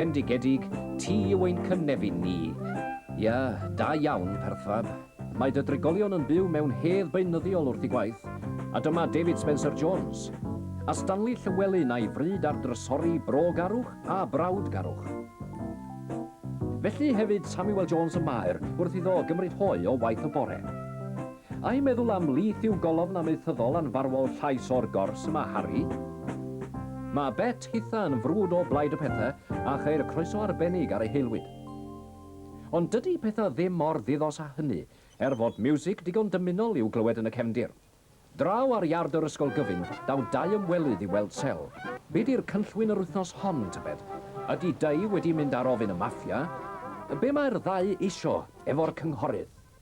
Bendigedig, ti yw ein cynefin ni. Ia, da iawn, Perthfab. Mae dy drigolion yn byw mewn hedd beunyddiol wrth i gwaith, a dyma David Spencer Jones. A Stanley Llywelyn a'i fryd ar drysori brogarwch a brawdgarwch. Felly hefyd Samuel Jones y Maer wrth iddo gymryd hoe o waith y bore. Ai meddwl am Leith yw golofn amaethyddol anfarwol llais o'r gors y mae Harri? Mae Bet hitha yn frwd o blaid y pethau a cheir croeso arbennig ar ei haelwyd. Ond dydy pethau ddim mor ddiddos â hynny, er fod miwsig digon dymunol i'w glywed yn y cefndir. Draw ar iard yr ysgol gyfun, daw dau ymwelydd i weld Sel. Be di'r cynllwyn yr wythnos hon, tybed? Ydy Dei wedi mynd ar ofyn y Maffia? Be mae'r ddau isio efo'r cynghorydd?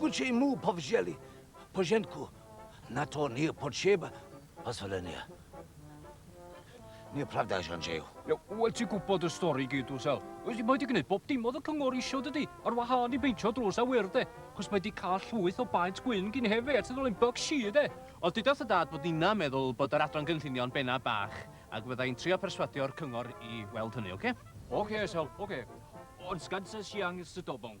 Gucci mu povjeli pojenku na to nije potreba posvolenia. Nije pravda že on žeju. Iawn, wel ti'n gwybod y stori i gyd dwyt Sel. Mae wedi gwneud bob dim oedd y cyngor eisiau dydy, ar wahân i beintio drws a wyrdd de, achos mae wedi cael llwyth o baent gwyn gyn hefe at y ddolen bug si de. Ond dudodd y dad bod ninnau'n meddwl bod yr adran gynllunio yn benna bach ac fydda i'n trio perswadio'r cyngor i weld hynny, oce? Oce, Sel, oce. Ond sgansa siang sydobong.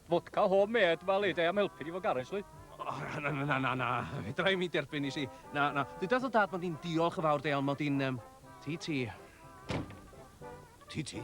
Vodka home made, wel ei de am helpu di fo garage lly. O, na, na, na, na, na, fedra i mi derbyn i si. Na, na, dyda dy dad mod i'n diolch yn fawr de, ond mod i'n, um, ti ti. Ti ti.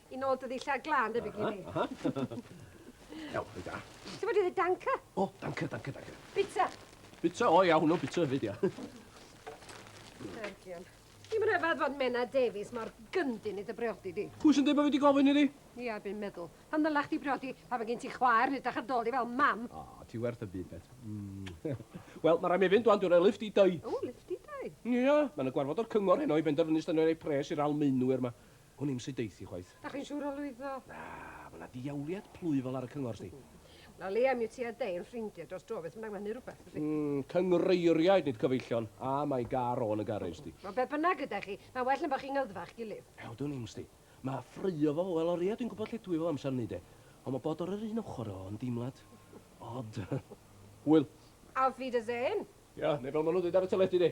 I nôl dy ddillad glan, debyg i mi. Aha, aha. Iawn, reit da. Ti'n bod i ddweud danca? O, danca, danca, danca. Bita. Bita, o ia, hwnnw bita hefyd, ia. Argion. Ni'n rhyfedd fod Mena Davies mor gyndyn i dy briodi di. Pwy sy'n dweud bod fi wedi gofyn i di? Ia, bu'n meddwl. Pan ddylach di briodi, pa fe gen ti chwaer, nid ach dol i fel mam. O, oh, ti werth y byd, bet. Mm. Wel, mae rhaid mi fynd dwan, dwi'n rhoi lift i dau. O, lift i dau? Ia, mae'n y gwarfod o'r cyngor heno i benderfynu ystod ei pres i'r almeinwyr yma. Hwn i'm sy deuth i chwaith. Dach chi'n siŵr o lwyddo? Na, ma' 'na ddiawliad plwyfol ar y cyngor, sdi. Wel, o leia mi wt ti a dy hen ffrindie dros dro, beth bynnag ma' hynny'n rwbeth, yndi? Mm, cynghreiriaid nid cyfeillion, a mae gar o yn y garej, sdi. Wel, beth bynnag yda chi, ma'n well na bo' chi'n ngyddfa a'ch gilydd. Ew, dwn i'm, sdi. Ma' ffraeo fo, wel, o leia dwi'n gwbod lle dw i fel amser 'ny, de. Ond ma' bod ar yr un ochor o yn deimlad od. Hwyl. Auf Wiedersehen! Ia, neu fel ma' nhw'n ddeud ar y teledu, de.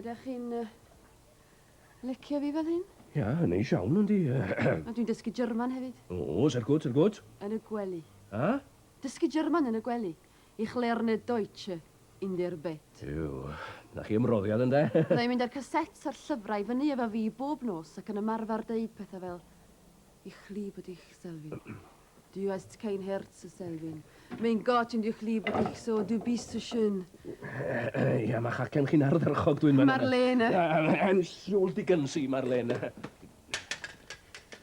Ydych chi'n licio fi fel hyn? Ia, yn neis iawn, yndi. A dwi'n dysgu German hefyd. O, ser gwt, ser gwt. Yn y gwely. A? Dysgu German yn y gwely. Ich lerne Deutsche in der Bett. Yw, na chi ymroddiad, ynde? Byddai mynd â'r casets a'r llyfrau fyny efo fi bob nos ac yn ymarfer deud pethau fel, Ich liebe dich, Selwyn. Du hast kein Herz, Selwyn. Mae'n got yn dy chli bod eich so, du bist so schön. Ia, mae'ch acen chi'n ardderchog, dwi'n meddwl. Marlene! I'm Siwl Dickens i Marlene.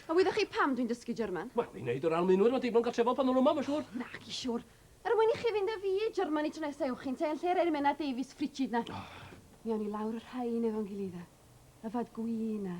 A wyddoch chi pam dwi'n dysgu German? Wel, i wneud yr Almaenwyr fod digon gartrefol pan nhw'n yma, mae'n siŵr. Nac i siwr. Er mwyn i chi fynd â fi i Germany tro nesa ewch chi'n te yn lle'r Ermena Davies ffrigid na. Mi awn ni lawr y rhain efo'n gilydd a yfad gwin a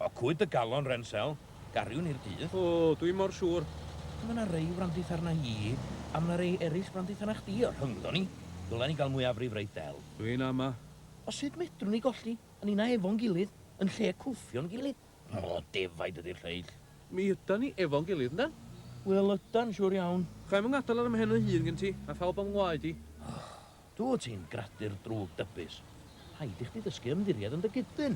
O, cwyd dy galon, Rensel. Gariwn i'r dydd. O, dwi mor siŵr. Mae 'na rei wrandith arna i, a mae 'na rei eraill wrandith arna chdi, a rhyngddo ni, ddylen ni gael mwyafrif reit del. Dwi'n ama. O, sut medrwn ni golli a ninna efo'n gilydd yn lle cwffio'n gilydd? O, defaid ydi'r lleill. Mi ydan ni efo'n gilydd, yndan? Wel, ydan, siŵr iawn. Chai'm 'y ngadael ar 'y mhen fy hun gen ti, a phawb o'm ngwaed i. Dwyt ti'n gradur drwg dybus. Rhaid i chdi ddysgu ymddiried yn dy gydyn.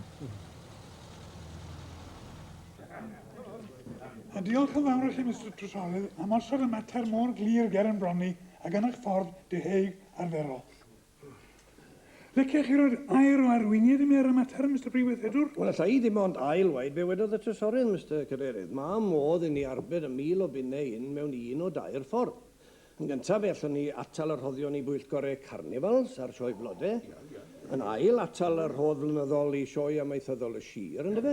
A diolch yn fawr i chi, Mister Trysorlyd, am osod y mater mor glir ger yn bron ni a gan eich ffordd diheug arferol. Liciech chi roi'r air o arweiniad i mi ar y mater, Mister Prif Weithredwr? Wel, alla i ddim ond ail-waed be wedodd y Trysorydd, Mister Cadeirydd. Mae modd i ni arbed y mil o bunnau hyn mewn un o dair ffordd. Yn gyntaf, fe allwn ni atal y rhoddion i bwyllgorau carnifals a'r sioe blode. Yn ail, atal y rhodd flynyddol i sioe amaethyddol y sir, yndyfe?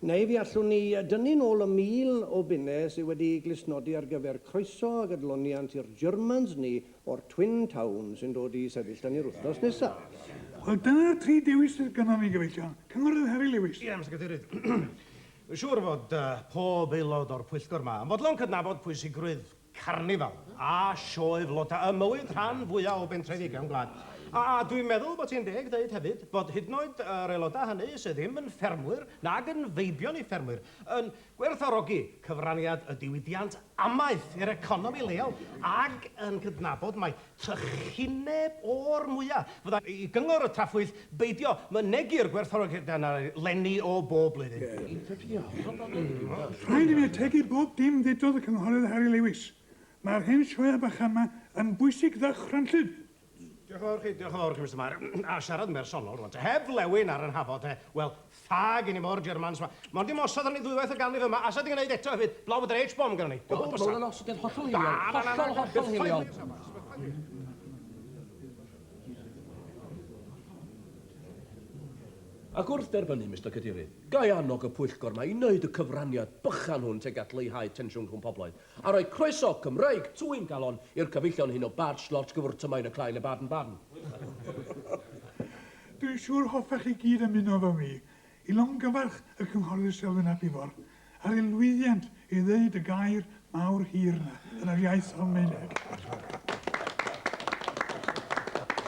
Neu fe allwn ni dynnu nôl y mil o bunnau sydd wedi eu glustnodi ar gyfer croeso ag adloniant i'r Germans ni o'r Twin Town sy'n dod i sefyll 'da ni'r wythnos nesaf. Wel, dyna'r tri dewis sydd gynnon ni, gyfeillion. Cynghorydd Harry Lewis. Ie, Mister Cadeirydd. Mae'n siŵr fod pob aelod o'r pwyllgor 'ma yn fodlon cydnabod pwysigrwydd carnifal a sioe floda ym mywyd rhan fwya' o bentrefi cefn gwlad. A dwi'n meddwl bod ti'n deg deud hefyd bod hyd yn oed yr aelodau hynny sy' ddim yn ffermwyr nag yn feibion i ffermwyr yn gwerthfawrogi cyfraniad y diwydiant amaeth i'r economi leol ac yn cydnabod mai trychineb o'r mwya', fydda' i gyngor y Tafwyll beidio mynegi'r gwerthfawrogiadau yna 'leni o bob blwyddyn. Rhaid i mi ategu bob dim ddedodd y Cynghorydd Harry Lewis. Mae'r hen sioeau bach yma yn bwysig ddychrynllyd. Diolch yn fawr i chi, diolch yn fawr i chi Mister Mair. A siarad yn bersonol rŵan te, heb flewyn ar 'y nhafod, wel, Fag i ni mor Germans ma. Mond dim osod arni ddwywaith y ganrif yma, asa di gneud eto hefyd, blow with an H-bomb gynnon ni. O, ma' hwn yn osodiad hollol hiliol. Hollol, hollol hiliol. Ac wrth dderbynnu, Mister Cadeirydd, ga'i annog y pwyllgor ma i neud y cyfraniad bychan hwn teg at leihau tensiwn rhwng pobloedd, a rhoi croeso Cymreig twyn galon i'r cyfeillion hyn o Bad Schlorch gyfwrdd tymain y clai le Baden-Baden. Dwi'n siŵr hoffech chi gyd ymuno efo fi i longyfarch y Cynghorydd Selwyn ap Ifor ar ei lwyddiant i ddeud y gair mawr hir 'na yn yr iaith Almaeneg.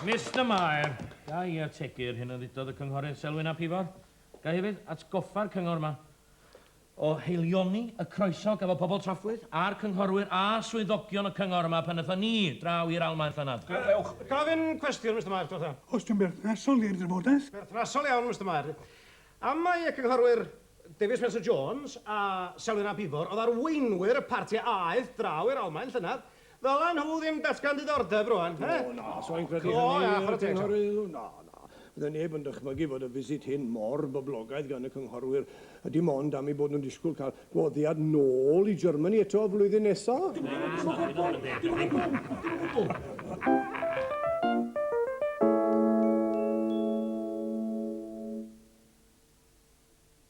Mister Mair, ga i ategu'r hyn a ddudodd y Cynghorydd Selwyn ap Ifor? Ga i hefyd atgoffa'r Cyngor yma, o haelioni y croeso gafodd pobl Trafwyth a'r cynghorwyr a swyddogion y cyngor yma pan aethon ni draw i'r Almaen llynedd. Ewch. Gofyn cwestiwn, Mister Mair, diolch iawn. Os yw'n berthnasol i'r drafodaeth. Berthnasol iawn, Mister Mair. Am mai y cynghorwyr David Spencer Jones a Selwyn ap Ifor oedd arweinwyr y parti a aeth draw i'r Almaen llynedd, Ddylen nhw ddim datgan diddordeb rwan, he? O, na, sa i'n credu hynny, y Cynghorydd. Na, na. Fydde neb yn dychmygu fod y visit hyn mor boblogaidd gan y Cynghorwyr, a dim ond am eu bod nhw'n disgwyl cael gwahoddiad nôl i Germany eto flwyddyn nesa. Na, na, na, na, na, dim o gwbl, dim o gwbl.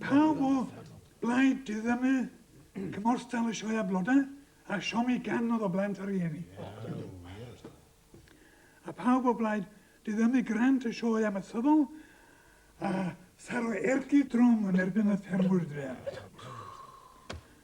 Pawb o blaid diddymu cymorthal y sioe a blodau a siomi gan oedd o blant a rhieni. A pawb o blaid diddymu grant y sioe amaethyddol a tharo ergyd drwm yn erbyn y ffermwyr dref.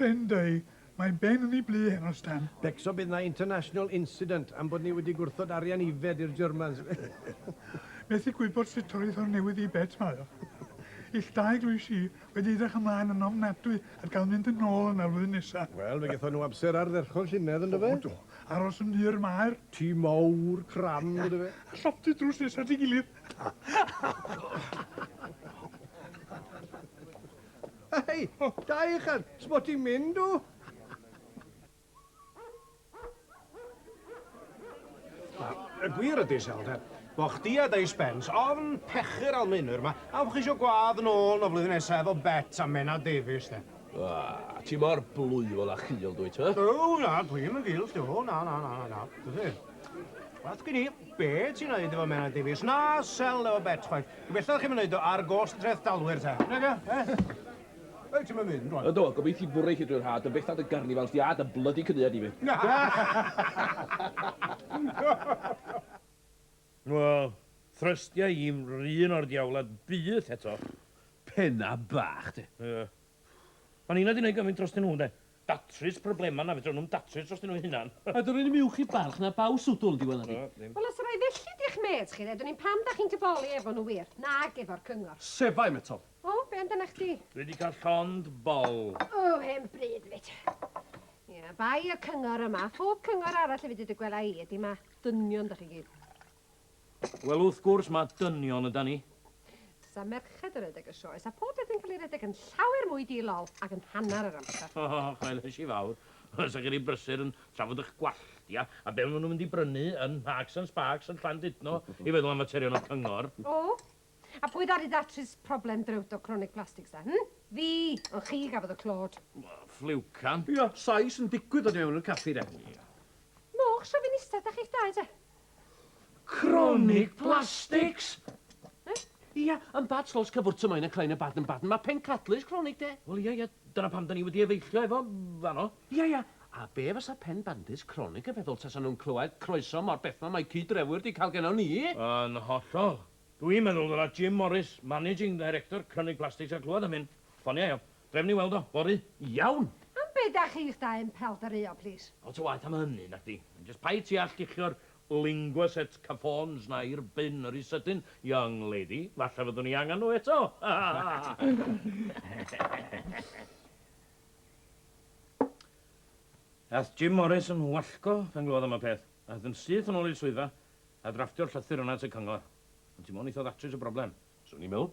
Rhyn dau, mae Ben yn ei blu heno, Stan. Becso bydd 'na international incident am bod ni wedi gwrthod arian ifed i'r Germans. Methu gwybod sut torri thorn newydd i Bet mae o. Ill dau glwys i, wedi edrych ymlaen yn ofnadwy at gael mynd yn ôl yna flwyddyn nesa. Wel, fe gethon nhw amser ardderchog llynedd yn do fe? O do, aros yn hir mae'r. Tŷ mawr, cram, yn do fe? A llofftydd drws nesa at ei gilydd. Hei, da uchel, sbo ti'n mynd o? Y gwir ydy, Selda, bo chdi a Dei Spence ofn pechu'r Almaenwyr ma, a bo chi isio gwadd nôl no flwyddyn nesa efo Bet a Menna Davies, de. Ah, ti mor blwyfol a chul, dwyt, hwy? O, na, dwi'm yn gul, sti, o, na, na, na, na, na, dwi ddim. Wath gyn i. Be ti'n neud efo Menai Davies? Na sell efo Bet chwaith. Gobeithio chi'm yn neud o ar gost dreftdalwyr te. Nage? Eh? Ei, ti'm yn mynd rwan. Yndw, gobeith i bwrw i chi drwy'r haf, dy fetha dy garnifals di a dy blydi cyniad di fyth. Wel, thrystia i'm 'run o'r diawlad byth eto. Penna bach de. Ie. O'n i 'na 'di neud gymaint drostyn nhw, ynde? datrys problemau na fedrwn nhw'm datrys dros nhw hunan. A dw r'un uwch i barch na baw swdl, dwi wela di. Na, ddim. Wel os rai felly di'ch mêts chi de, dwn i'm pam da chi'n tyboli efo nhw wir, nag efo'r cyngor. Sefai, metodd. O, be amdana chdi? Dwi di cael llond bol. O, hen bryd, fyd. Ia, bai y cyngor yma, phob cyngor arall efyd i dy gwela i, ydi ma' dynion da chi gyd. Wel wrth gwrs mae dynion yda ni. Sa merched yn rhedeg y sioe sa pob peth yn cael ei redeg yn llawer mwy di-lol ac yn hanner yr amser. O, chwailes i fawr. Sa chi rhy brysur yn trafod ych gwalltia a be maen nhw'n mynd i brynu yn Marks and Sparks yn Llandudno i feddwl am faterion o cyngor. O! A pwy ddaru ddatrys problem drewto cronig plastics ta, hmm? Fi! Ond chi gafodd y clod. Ffliwcan. Ia, Sais yn digwydd dod i mewn i'r caffi de. Moch shofinista dach chi'ch dau te. Cronig plastics! Eh? Ia, yn bad slos cyfwrt y mae'n y bad yn bad yn mae pen cadlys cronig de. Wel ia ia, dyna pam da ni wedi efeillio efo fanno. Ia ia, a be fysa pen bandys cronig yn feddwl tasa nhw'n clywed croeso mor beth mae mae cyd-drefwyr di cael genno ni? Yn hollol. Dwi'n meddwl ddyla Jim Morris, Managing Director Cronig Plastics a clywed am hyn. Ffoniau o. Trefn i weld o, fory. Iawn! Am be da chi'ch dau'n pelderyo, plis? Lot o waeth am hynny, nacdi? Jyst paid ti â lluchio'r linguas et cafons 'na i'r bin ry sydyn, young lady. Falle fyddwn i angen nhw eto! Aeth Jim Morris yn wallgo pan glywodd am y peth. Aeth yn syth yn ôl i'r swyddfa a drafftio'r llythyr yna at y cyngor. Ond ti mo'n eitha ddatrys y broblem. Swn i'n meddwl.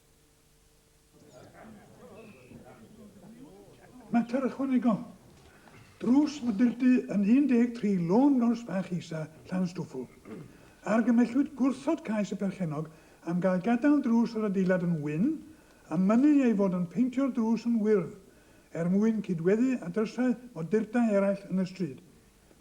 Mater ychwanegol. Drws Mydyrdy yn 13 Lôn Gors Bach Isa, Llanstwffwl. Argymellwyd gwrthod cais y perchennog am gael gadael drws yr adeilad yn wyn a mynnu ei fod yn peintio'r drws yn wyrdd er mwyn cydweddu â drysau modurda eraill yn y stryd.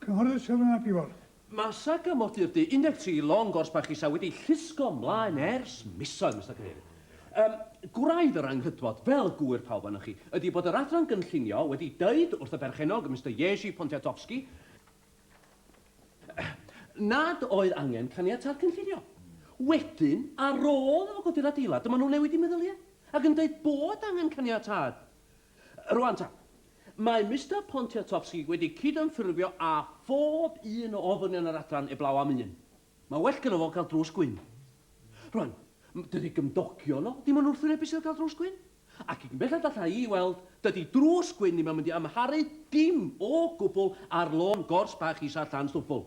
Cynghorydd Siron ap Iorch. Masa Camodydd Du, 13 Long Gorse Bach Isa wedi llusgo mlaen ers misoedd, Mister Cadeirydd. Yym, gwraidd yr anghydfod, fel gŵyr pawb ohonoch chi, ydi bod yr Adran Gynllunio wedi deud wrth y berchennog, Mister Jerzy Pontiatowski, nad oedd angen caniatâd cynllunio. Wedyn, ar ôl iddo fo godi'r adeilad, dyma nhw'n newid eu meddyliau ac yn deud bod angen caniatâd Rŵan ta, mae Mister Pontiatowski wedi cydymffurfio â phob un o ofynion yr adran eblaw am un. Mae'n well gynno fo gael drws gwyn. Rŵan, dydy gymdogion o ddim yn wrthwynebu Sul cael drws gwyn, ac i gyn belled alla i weld, dydy drws gwyn ddim yn mynd i amharu dim o gwbl ar lôn gors bach isa Llanstwbwl.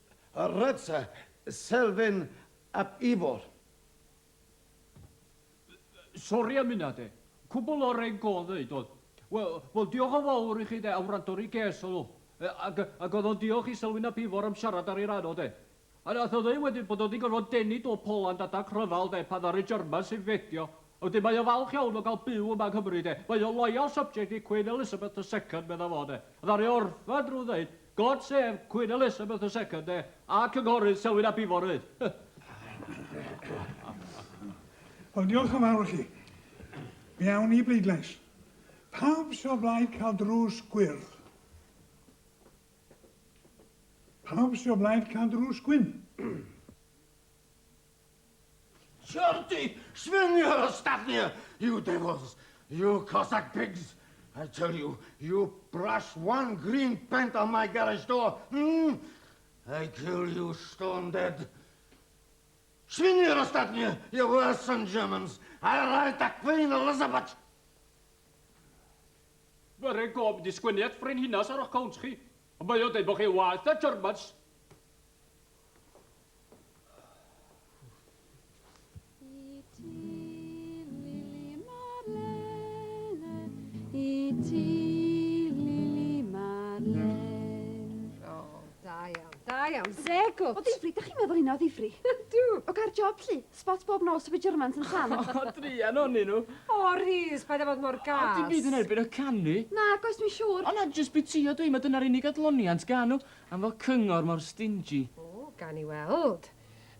Rhodfa Selfyn ap Ifor. Sori am hynna de. Cwbl o reng go ddeud oedd. Wel, wel diolch yn fawr i chi de am wrando ar ei ges oedd o. Ac, ac oedd o'n diolch i Selwyn ap Ifor am siarad ar ei ran o de. A nath o ddeud wedyn bod o wedi gorfod denu do Poland adag rhyfel de pan ddaru Germans infedio Ydy, mae o falch iawn o gael byw yma yng Nghymru, de. Mae o'n loyal subject i Queen Elizabeth the Second, medda fo, de. Ddaru orffen drwy ddeud, God save Queen Elizabeth the Second, de, a Cynghorydd Selwyn ap Ifor 'fyd. Wel, diolch yn fawr i chi. Mi awn ni i bleidlais. Pawb sy' o blaid cael drws gwyrdd? Pawb sy' o blaid cael drws gwyn? Shorty, swing your stuff here, you devils, you Cossack pigs. I tell you, you brush one green pent on my garage door, hmm? I kill you stone dead. Swing your stuff here, you worse than Germans. I write the Queen Elizabeth. Mae rhaid gof mynd i sgwennu at Frenhines ar o'ch cownt chi. Mae o'n dweud bod chi waeth na Germans. Go. O ddifri, da chi'n meddwl hynna o ddifri? Dw. O gair job, lli. Spot bob nos o fi Germans yn tan. O, drian o'n nhw. O, Rhys, paid â bod mor gas. O, dim byd yn erbyn o canu. Na, goes, dwi'n siŵr. O na, jyst bwytio dwi, mae dyna'r unig adloniant gan nhw. Am fod cyngor mor stingy. O, gawn ni weld.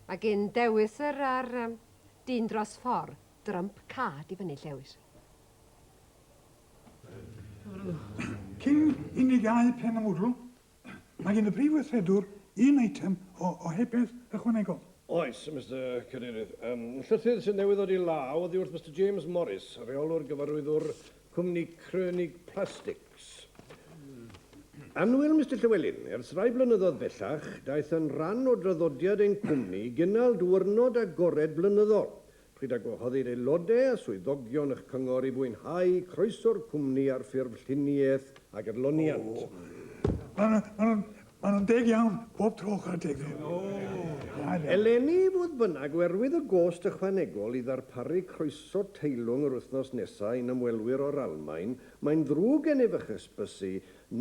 Mae gin Dewis yr a'r yym dyn dros ffor. Drump card i fyny Llewis. Cyn i ni gau pen y mwdl, mae gin y Prif Weithredwr un eitem o ohebydd ychwanegol. Oes, Mister Cadeirydd. Yym, llythyr sydd newydd ddod i law oddi wrth Mister James Morris, Rheolwr Gyfarwyddwr Cwmni Krönig Plastics. Annwyl Mister Llywelyn, ers rhai blynyddoedd bellach, daeth yn rhan o draddodiad ein cwmni i gynnal diwrnod agored blynyddol, pryd a gwahoddir aelodau a swyddogion eich cyngor i fwynhau croeso'r cwmni ar ffurf lluniaeth a gydloniant. Maen nhw'n deg iawn, pob tro, chwarae teg iddyn nhw. Da iawn. Eleni, fodd bynnag, oherwydd y gost ychwanegol i ddarparu croeso teilwng yr wythnos nesaf i'n ymwelwyr o'r Almaen, mae'n ddrwg gennyf eich hysbysu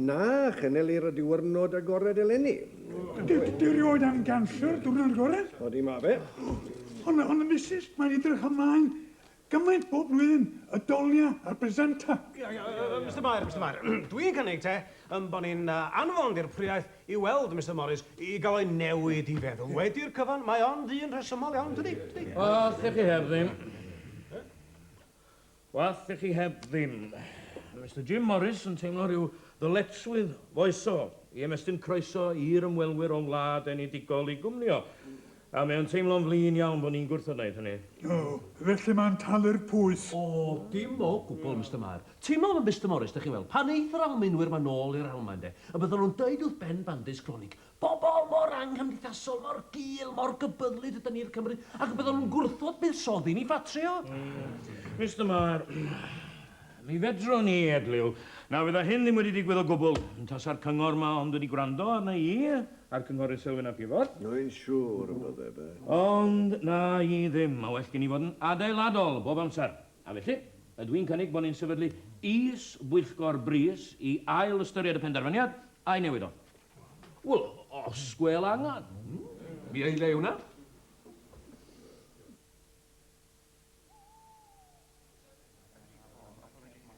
na channelir y diwyrnod agored eleni. Dwi rioed am ganslo'r diwrnod agored. Ydy, mae fe. Ond, Misus, mae'n edrych ymlaen Gymaint bob blwyddyn, y dolia a'r bresenta. Mister Mair, Mister Mair, dwi'n cynnig te yn bo ni'n anfon dirprwyaeth i weld Mister Morris i gael o'i newid i feddwl. Wedi'r cyfan, mae o'n ddyn rhesymol iawn, dydi? Dydi? Os dych chi heb ddim. Os dych chi heb ddim. Mister Jim Morris yn teimlo rhyw ddyletswydd foesol i ymestyn croeso i'r ymwelwyr o'n wlad enedigol i gwmnïo. A mae o'n teimlo'n flin iawn bod ni'n gwrthod wneud hynny. O, felly mae'n talu'r pwys. O, dim o gwbl, Mister Mair. Teimlaf yn bistymorus, dych chi'n weld. Pan eith yr Almaenwyr 'ma nôl i'r Almaen, de, y byddan nhw'n deud wrth Ben Bandis Gronig, 'Pobol mor anghymdeithasol, mor gul, mor gybyddlyd ydan ni'r Cymry', ac y byddan nhw'n gwrthod buddsoddi ni ffatrio. Mister Mair, mi fedrwn i edliw na fydda hyn ddim wedi digwydd o gwbl, tasa'r cyngor 'ma ond wedi gwrando arna i. A'r Cynghorydd Selwyn ap Ifor. Rwy'n siŵr y bydde fe. Ond na i ddim, mae well gen i fod yn adeiladol bob amser. A felly, ydw i'n cynnig bod ni'n sefydlu is-bwyllgor brys i ail-ystyried y penderfyniad a'i newid o. Wel, os gwêl angen. Mi aelai hwnna.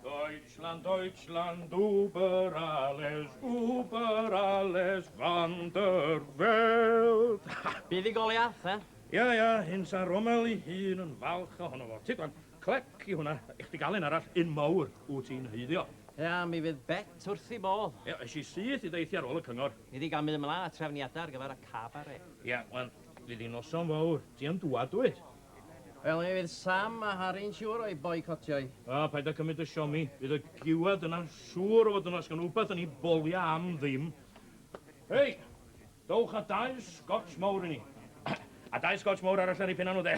Deutschland, Deutschland, über alles, über alles van der Welt. Bydd i goli ath, eh? Ia, ia, hyn sa Rommel i hun yn falch ohono fo. Ti gwan, clec i hwnna, eich di galen arall un mawr wyt ti'n heiddio. Ia, mi fydd bet wrth i bodd. Ia, eis i syth i ddeithio ar ôl y cyngor. Ni di gamu ymlaen a trefniadau ar gyfer y cabaret. Ia, wan, fydd i noson fawr, ti yn dŵad dwyt? Wel, mi fydd Sam a Harry'n siŵr o'i boicotio'i. A, paid â cymryd y siomi. Fydd y giwad yna siŵr o fod yn asgwn wbath yn 'i bolia am ddim. Hei! Dowch a dau Scotch mowr i ni. A dau Scotch mowr arall ar 'i phenna nhw, 'de?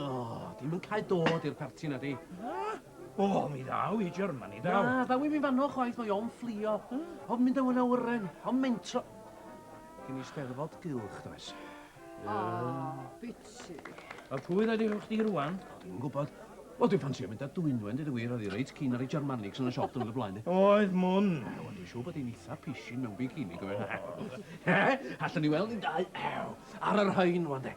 O, di'm yn cael dod i'r parti na di. Na? O, mi ddaw i Germany, daw. Na, ddaw i mi fanno chwaith, mae o'n fflio. Hmm? O'n mynd o'n awyren, o'n mentro. Cyn i steddfod gylch, does. O, oh, biti. A pwy dda di chdi rwan? O, ddim yn gwybod. O, dwi'n ffansio mynd â dwynwen, dyd y wir, oedd i reit cyn ar ei Germanics yn y siop dwrnod y blaen. Oedd mwn. Wel, dwi'n siŵr bod hi'n eitha pisin mewn bikini, gofyn. He? Allwn ni weld yn dau. Ew. Ar yr hain, wan de.